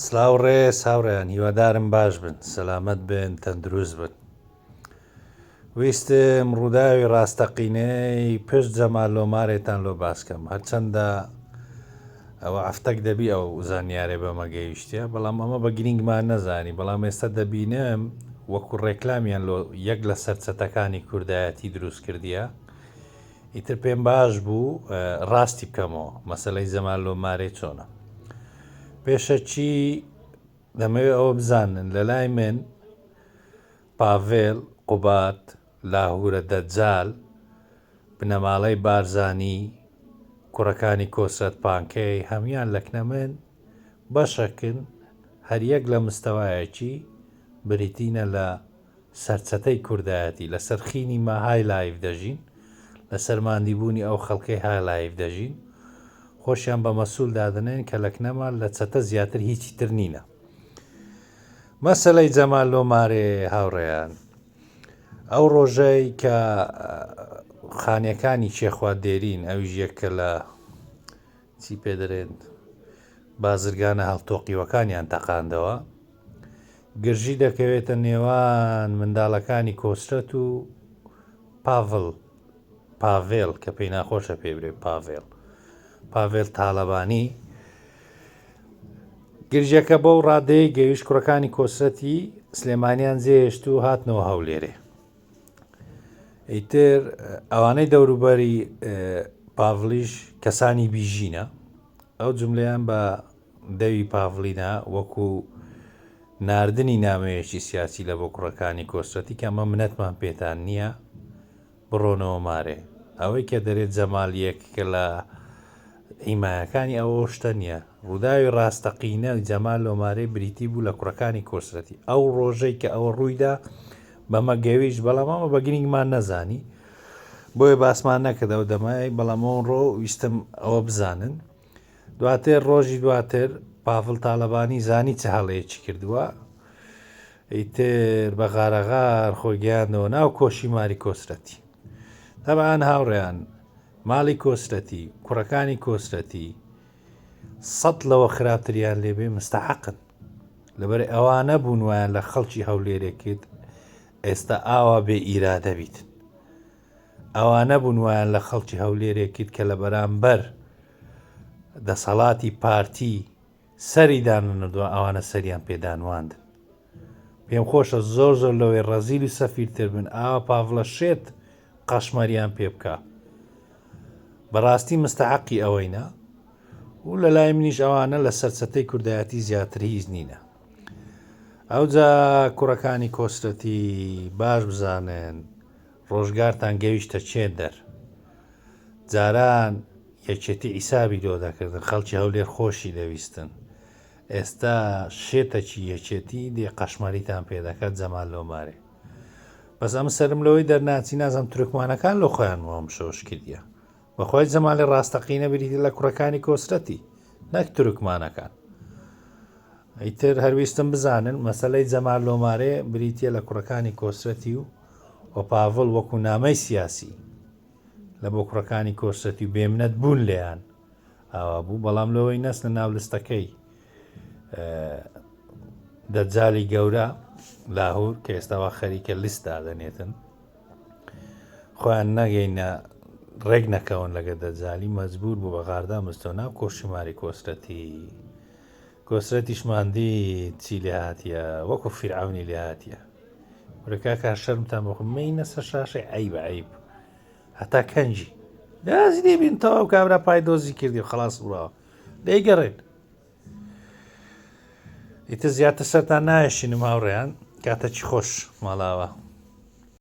سلاو ڕێز هاوڕێیان هیوادارم باش بن سەلامەت بن تەندروست بن ویستم ڕووداوی ڕاستەقینەی پشت جەمال لۆمارێتان لۆ باسکەم هەرچەندە ئەوە ئەفتەک دەبی ئەو زانیارێ بەمەگەیشتە بەڵام ئەمە بە گرنگمان نەزانی بەڵام ئێستا دەبینم وەکو ڕێکلامیان لۆ یەک لە سەرچەتەکانی کوردایەتی دروست کردیە ئیتر پێم باش بوو ڕاستی بکەمەوە مەسلەی زەمان لۆ مارێ چۆنە پێشە چی دەمەوێت ئەوە بزانن لە لای من پاڤێل قوبات لاهورە دەجال بنەماڵەی بارزانی کوڕەکانی کۆسرەت پانکەی هەمان لەکنە من بەشەکن هەریەک لە مستەوایەکی بریتینە لە سەرچەتەی کوردایەتی، لەسەر خینی ما های لایڤ دەژین، لەسەر ماندیبوونی ئەو خەڵکەی های لایڤ دەژین، خۆشیان بە مەسول دادەنێن کە لە کنەما لە چەتە زیاتر هیچی تر نینە. مەسەلەی جەمال لۆ مارێ هاوڕێیان، ئەو ڕۆژەی کە خانیەکانی کێخوات دێرین، ئەویش یەکە لە چی پێ دەرێت بازرگانە هەڵتۆقیوەکانیان تەقاندەوە، گرژی دەکەوێتە نێوان منداڵەکانی کۆسرەت و پاڤڵ پاڤێڵ کە پێی ناخۆشە پێ برێ پاڤێڵ پاڤێل تاالبانی گرژەکە بەو ڕادەیە گەویش کوڕەکانی کۆسرەتی سلێمانیان جێهێشت و هاتنەوە هەولێرێ ئیتر ئەوانەی دەوروبەری پاڤلیش کەسانی بیژینە ئەو جملیان بە دەوی پاڤلینا وەکو ناردنی نامەیەکی سیاسی لە بۆ کوڕەکانی کۆسرەتی کە ئەمە منەتمان پێتان نییە بڕۆنەوە مارێ ئەوەی کە دەرێت جەمالیەک کە لە حیمایەکانی ئەوە شتە نیە. ڕووداوی ڕاستەقینە جەمال لۆمارێ بریتی بوو لە کوڕەکانی کۆسرەتی. ئەو ڕۆژەی کە ئەوە ڕوویدا بەمە گەویشت بەڵام ئەمە بە گرینگمان نەزانی بۆیە باسمان نەکرد ئەو دەمای بەڵام ئەو ڕۆ ویستم ئەوە بزانن. دواتر ڕۆژی دواتر پافل تاالبانی زانی چ هەڵەیەکی کردووە ئیتر بە غارەغار خۆی گەیاندەوە ناو کۆشی ماری کۆسرەتی. تەبعان هاوڕێیان ماڵی کۆسرەتی، کوڕەکانی کۆسرەتی سەد لەوە خراپتریان لێبێ مستەحەقن. لەبەر ئەوە نەبوون وایان لە خەڵکی هەولێرێ کرد ئێستا ئاوا بێ ئیرادە بیت. ئەوە نەبوون وایان لە خەڵکی هەولێرێ کرد کە لە بەرامبەر دەسەڵاتی پارتی سەری دانەنردوە ئەوانە سەریان پێ دانواندن پێم خۆشە زۆر زۆر لەوەی ڕەزیل و سەفیرتر بن ئاوا پاڤڵە شێت قەشمەریان پێ بکا بەڕاستی مستحقی ئەوەینە و لە لای منیش ئەوانە لە سەرچەتەی کوردایەتی زیاتر هیچ نینە ئەوجا کوڕەکانی کۆسرەتی باش بزانن ڕۆژگارتان گەویشتە چێن دەر. جاران یەکێتی عیسابی لۆ دەکردن خەڵکی هەولێر خۆشی دەویستن ئێستا شێتەکی یەکێتی دێ قەشمەریتان پێ دەکات جەمال لۆمارێ بەس ئەمن سەرم لەوەی دەرناچی نازم تورکمانەکان لۆ خۆیان وام شۆش کردیە بەخوای جەمالی ڕاستەقینە بریتە لە کوڕەکانی کۆسرەتی نەک تورکمانەکان ئیتر هەرویستم بزانن مەسلەی جەمال لۆمارێ بریتە لە کوڕەکانی کۆسرەتی و و پاڤڵ وەکو نامەی سیاسی لە بۆ کوڕەکانی کۆسرەتی و بێمنەت بوون لێیان ئاوا بوو بەڵام لەوەی نەسنە ناو لستەکەی دەجای گەورە لاهور کە ئێستاوا خەریکە لیست دادەنێتن خۆیان نەگەینە ڕێک نەکەون لەگە دەجالی مەجبور بوو بە غاردا مستۆ ناو کۆشی ماری کۆسرەتی کۆسرەتیش ماندی چی لێ هااتە وەکو فیرعونی لێ هااتە ورەکەکە شەرمتان بخمەی نەسە شاشی عیب عیب هەتا کەنجی دازی دەبین تەواو کابرا پای دۆزی کردی و خلاص بڕاوە دەیگەڕێن ئیتە زیاتر سەران نایشینم هاوڕێیان کاتەکی خۆش ماڵاوە